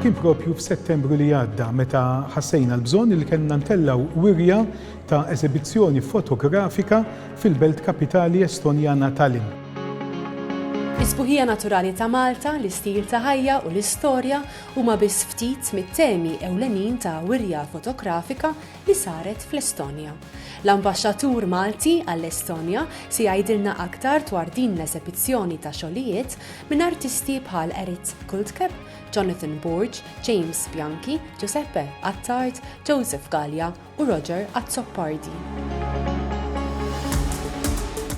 Kien propju f'Settembru li għadda meta ħassejna l-bżonn li kellna ntellaw wirja ta' eżibizzjoni fotografika fil-belt kapitali Estonjana Tallinn. Is-sbuħija naturali ta' Malta, l-istil ta' ħajja u l-istorja huma biss ftit mit-temi ewlenin ta' wirja fotografika li saret fl-Estonja. L-Ambaxxatur Malti għall-Estonja se jgħidilna aktar dwar din l-esebizzjoni ta' xogħlijiet minn artisti bħal Erit Kultkepp, Jonathan Borg, James Bianchi, Giuseppe Attard, Joseph Galea u Roger Azzopardi.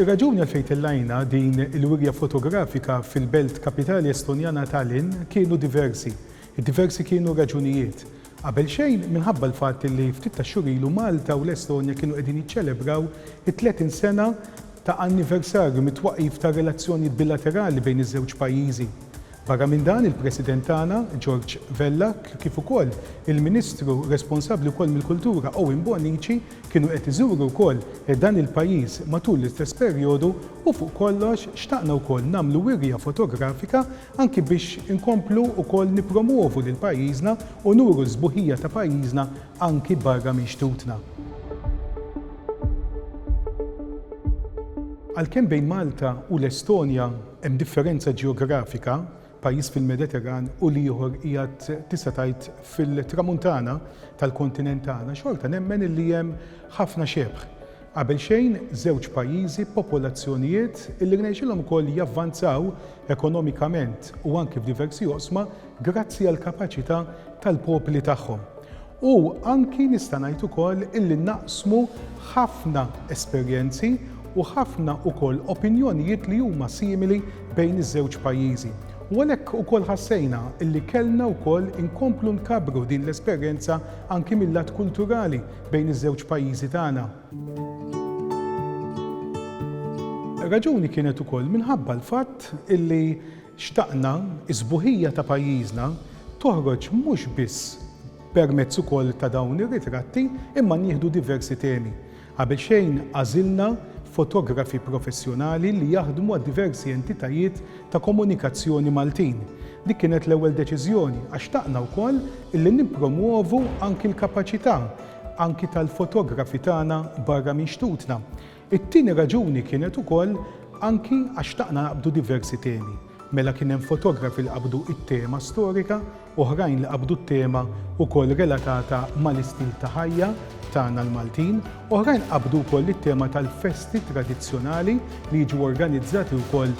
Ir-raġuni għalfejn tellajna din il-wirja fotografika fil-belt kapitali Estonjana Tallinn kienu diversi. Id-diversi kienu raġunijiet. Qabelxejn minħabba l-fatt li ftit tax-xhur ilu Malta u l-Estonja kienu qegħdin jiċċelebraw it-30 sena ta' anniversarju mit-twaqqif tar-relazzjonijiet bilaterali bejn iż-żewġ pajjiżi. Barra minn dan, il-President tagħna, George Vella, kif ukoll il-Ministru responsabbli wkoll mill-Kultura, Owen Bonnici, kienu qed iżuru wkoll dan il-pajjiż matul l-istess perjodu u fuq kollox xtaqna wkoll nagħmlu wirja fotografika anki biex inkomplu wkoll nippromwovu lil pajjiżna u nuru s-sbuħija ta' pajjiżna anki barra minn xtutna. Għalkemm bejn Malta u l-Estonja hemm differenza ġeografika, pajjiż fil-Mediterran u l-ieħor qiegħed tista' tgħid fil-Tramuntana tal-kontinent tagħna, xorta nemmen illi hemm ħafna xebh. Qabelxejn żewġ pajjiżi b'popolazzjonijiet li rnexxielhom ukoll javvanzaw ekonomikament u anki f'diversi oqsma grazzi għall-kapaċità tal-popli tagħhom. U anki nista' ngħid ukoll illi naqsmu ħafna esperjenzi u ħafna ukoll opinjonijiet li huma simili bejn iż-żewġ pajjiżi. U għalhekk ukoll ħassejna illi kellna wkoll inkomplu nkabbru din l-esperjenza anki mil-lat kulturali bejn iż-żewġ pajjiżi tagħna. Raġuni kienet ukoll minħabba l-fatt illi xtaqna s-sbuħija ta' pajjiżna toħroġ mhux biss permezz ukoll ta' dawn ir-ritratti imma nieħdu diversi temi. Qabel xejn għażilna fotografi professjonali li jaħdmu għad-diversi entitajiet ta' komunikazzjoni Maltin. Dik kienet l-ewwel deċiżjoni għax xtaqna wkoll illi nippromwovu anki l-kapaċità anki tal-fotografi tagħna barra minn xtutna. It-tieni raġuni kienet ukoll anki għax xtaqna naqbdu diversi temi. Mela kien hemm fotografi li qabdu t-tema storika, Oħrajn li qabdu t-tema wkoll relatata mal-istil ta' ħajja tagħna l-Maltin. Oħrajn qabdu wkoll it-tema tal-festi tradizzjonali li jiġu organizzati wkoll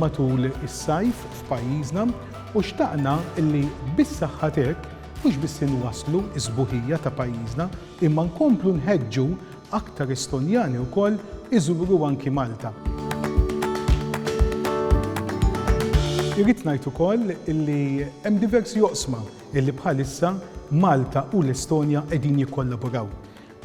matul is-sajf f'pajjiżna u xtaqna li bis-saħħa t'hekk mhux biss inwasslu s-sbuħija ta' pajjiżna imma nkomplu nħeġġu Aktar Estonjani wkoll iżuru anki Malta. Irrid ngħid ukoll li hemm diversi oqsma li bħalissa Malta u l-Estonja qegħdin jikkollaboraw.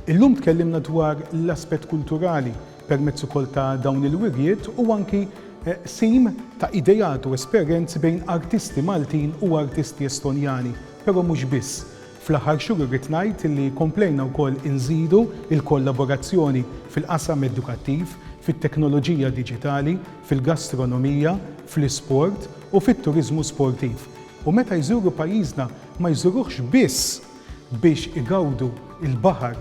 Illum tkellimna dwar l-aspett kulturali permezz ukoll ta' dawn il-wirjiet u anki qsim ta' ideat u esperjenzi bejn artisti Maltin u artisti Estonjani, però mhux biss. Fl-aħħar xhur irrid ngħid li komplejna wkoll inżidu l-kollaborazzjoni fil-qasam edukattiv, fit-teknoloġija diġitali, fil-gastronomija, fl-isport u fit-turiżmu sportiv. U meta jżuru pajjiżna ma jżuruhx biss biex igawdu l-baħar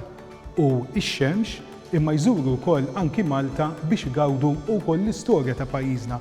u x-xemx imma jżuru wkoll anki Malta biex igawdu wkoll l-istorja ta' pajjiżna.